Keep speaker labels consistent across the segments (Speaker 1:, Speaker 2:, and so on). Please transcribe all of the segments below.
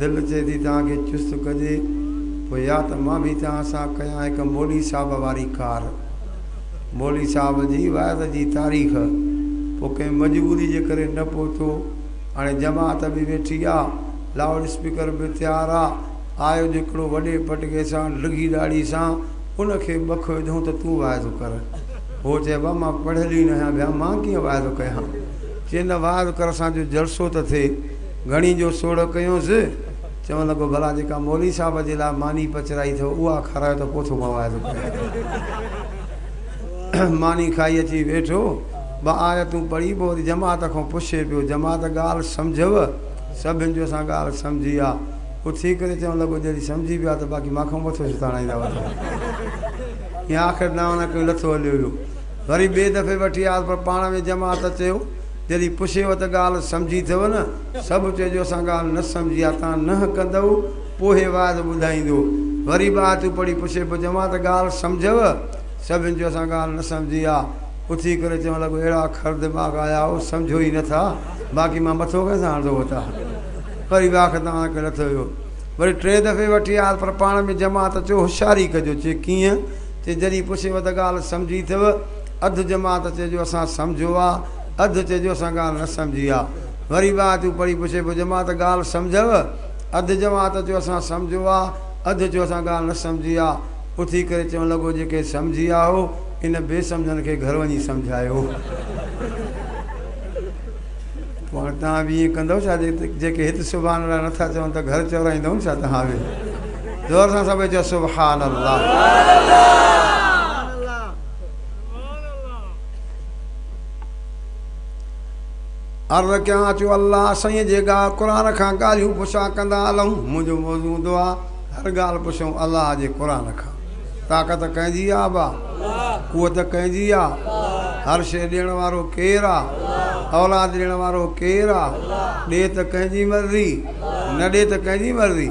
Speaker 1: دل چئي ٿي توهان کي چست ڪجي پوء يا ته مان به توهان سان ڪيان هڪ مولوي صاحب واري ڪار. مولوي صاحب جي وعظ جي تاريخ، پوء ڪنهن مجبوري جي ڪري نه پهتو. هاڻي جماعت به ويٺي آ، لائوڊ اسپيڪر به تيار آ، آيو جو هڪڙو وڏي پٽڪي سان ڊگهي ڏاڙهي سان ان کي ٻه کهه وڌئون ته تون وعظ ڪر. هو چئي بابا مان پڙهيل ئي نه آهيان ڀيا مان ڪيئن وعظ ڪيان. چئي نه وعظ ڪر اسان جو جلسو ته ٿئي. گهڻي جو سوڙهه ڪيونس، چوڻ لڳو، ڀلا جيڪا مولوي صاحب جي لاء ماني پچرائي اٿئو، اها کارايو ته پوٿو مواعظو ڪريان ٿو. ماني کائي اچي ويٺو، ٻه آيتون پڙهي پوء وري جماعت کان پڇي پيو، جماعت ڳالهه سمجهيو؟ سڀن چيو، اسان ڳالهه سمجهي آ. اٿي ڪري چوڻ لڳو، جيڏي سمجهي پيا ته باقي مان کان مٿو ڇو تاڻائيندا وٺو. ائين آخر دانهن نه ڪيو، لٿو هليو ويو. وري ٻئي دفعي وٺي آيس، پر پاڻ ۾ جماعت چيو، جڏهن پڇيو ته ڳالهه سمجهي اٿئو نه؟ سڀ چيو جو اسان ڳالهه نه سمجهي آ، تان ننهن ڪندئو پوء هي واعظ ٻڌائيندو. وري به آيتون پڙهي پڇي پيو چوان ته ڳالهه سمجهيو؟ سڀني چيو اسان ڳالهه نه سمجهي آ. اٿي ڪري چوڻ لڳو اهڙا کر دماغ آيا هو سمجهيو ئي نه ٿا، باقي مان مٿو ڪنهن سان هڻندو هوتا. وري واک تان اڻ کي لٿو ويو. وري ٽئين دفعي وٺي آيس پر پاڻ ۾ جماعت چيو هوشياري ڪجو. چي ڪيئن؟ چي جڏهن پڇيو ته ڳالهه سمجهي اٿئو؟ اڌ جماعت چئي جو اسان سمجهيو آ، اڌ چئي جو اسان ڳالهه نه سمجهي آ. وري ٻه آيتون پڙهي پڇي پيو جماعت ڳالهه سمجهيو؟ اڌ جماعت چيو اسان سمجهيو آ، اڌ چيو اسان ڳالهه نه سمجهي آ. اٿي ڪري چوڻ لڳو جيڪي سمجهي آ هو ان بي سمجهن کي گهر وڃي سمجهايو. پوء هاڻي توهان به ائين ڪندؤ ڇا جيڪي هت سبحان الله نه ٿا چون ته گهر چورائيندؤن ڇا توهان به؟ زور سان سڀئي چئو سبحان الله. عرض ڪيان اچو الله سائين جي ڳا قرآن کان ڳالهيون پڇا ڪندا الهون منهنجو موضوع دعا هر ڳالهه پڇون الله جي قرآن کان طاقت ڪنهن جي آ با قوت ڪنهن جي آ هر شيء ڏيڻ وارو ڪير آ اولاد ڏيڻ وارو ڪير آ ڏي ته ڪنهن جي مرضي نه ڏي ته ڪنهن جي مرضي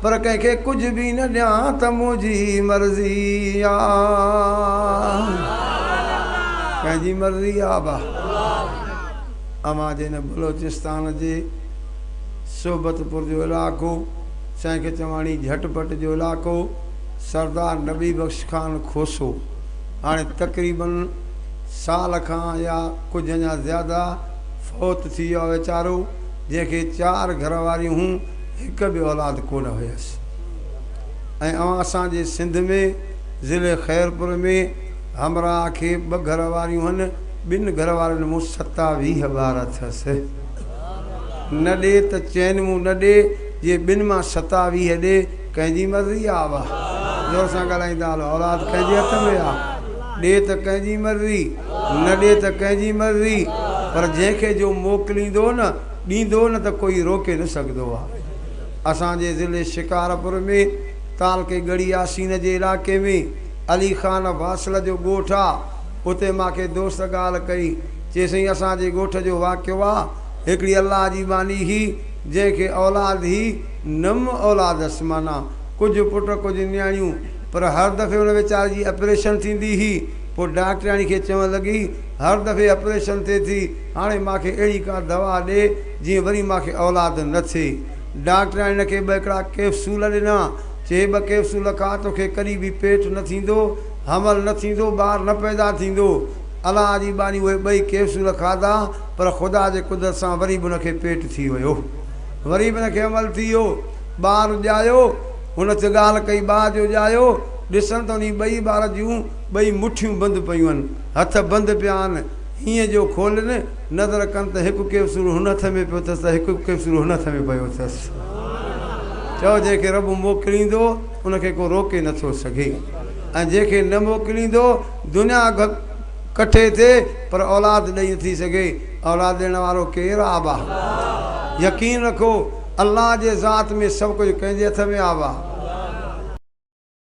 Speaker 1: پر ڪنهن کي ڪجهه به نه ڏيان ته منهنجي مرضي آ پنهنجي مرضي آ با امان جي نه بلوچستان جي صحبت پور جو علائقو سائين کچواڻي جهٽ پٽ جو علائقو سردار نبي بخش خان کوسو هاڻي تقريباً سال کان يا ڪجهه اڃا زياده فوت ٿي ويو آ ويچارو جنهن کي چار گهر واريون هون هڪ به اولاد ڪونه هيس ۽ اوهان اسان جي سنڌ ۾ ضلعي خيرپور ۾ همراهه کي ٻه گهر واريون هن ٻن گهر وارين مون ستاويهه ٻار اٿس نه ڏي ته چين مون نه ڏي جي ٻن مان ستاويهه ڏي ڪنهن جي مرضي آ واه زور سان ڳالهائيندا هلو اولاد ڪنهن جي هٿ ۾ آ ڏي ته ڪنهن جي مرضي نه ڏي ته ڪنهن جي مرضي پر جنهن کي جو موڪليندو نه ڏيندو نه ته ڪوئي روڪي نه سگهندو آ اسان جي ضلعي شڪارپور ۾ تعلقي ڳڙهي ياسين جي علائقي ۾ علي خان واصل جو ڳوٺ آ اتي ماکي دوست ڳالهه ڪئي چي سائين اسان جي ڳوٺ جو واقعو آ هڪڙي الله جي ٻانهي هي جنهن کي اولاد هي نم اولاد هس معنيٰ ڪجهه پٽ ڪجهه نياڻيون پر هر دفعي ان ويچاري جي اپريشن ٿيندي هي پوء ڊاڪٽرياڻي کي چوڻ لڳي هر دفعي آپريشن ٿئي ٿي، هاڻي مان کي اهڙي ڪا دوا ڏي جيئن وري مان کي اولاد نه ٿئي. ڊاڪٽرياڻي هن کي ٻه هڪڙا ڪيپسول ڏنا، چي هي ٻه ڪيپسول کا توکي ڪڏهن به پيٽ نه ٿيندو، حمل نه ٿيندو، ٻار نه پيدا ٿيندو. الله جي ٻانهي اهي ٻئي ڪيپسول کاڌا پر خدا جي قدرت سان وري به هن کي پيٽ ٿي ويو. وري به هن کي حمل ٿي ويو. ٻار ڄايو. هن هڪ ڳالهه ڪئي ٻار جو ڄايو ڏسن ته انهي ٻئي ٻار جون ٻئي مٺيون بند پيون آهن. هٿ بند پيا آهن. هينئن جو کولي نه نظر ڪن ته هڪ ڪيپسول هن هٿ ۾ پيو اٿس ته هڪ ڪيپسول هن هٿ ۾ پيو اٿس. چؤ جنهن کي رب موڪليندو ان کي ڪو روڪي نه ٿو سگهي ۽ جنهن کي نه موڪليندو دنيا ڪٺي ٿئي پر اولاد ڏئي نه ٿي سگهي. اولاد ڏيڻ وارو ڪير آهي ابا؟ يقين رکو الله جي ذات ۾ سڀ ڪجهه ڪنهن جي هٿ ۾ آهي ابا؟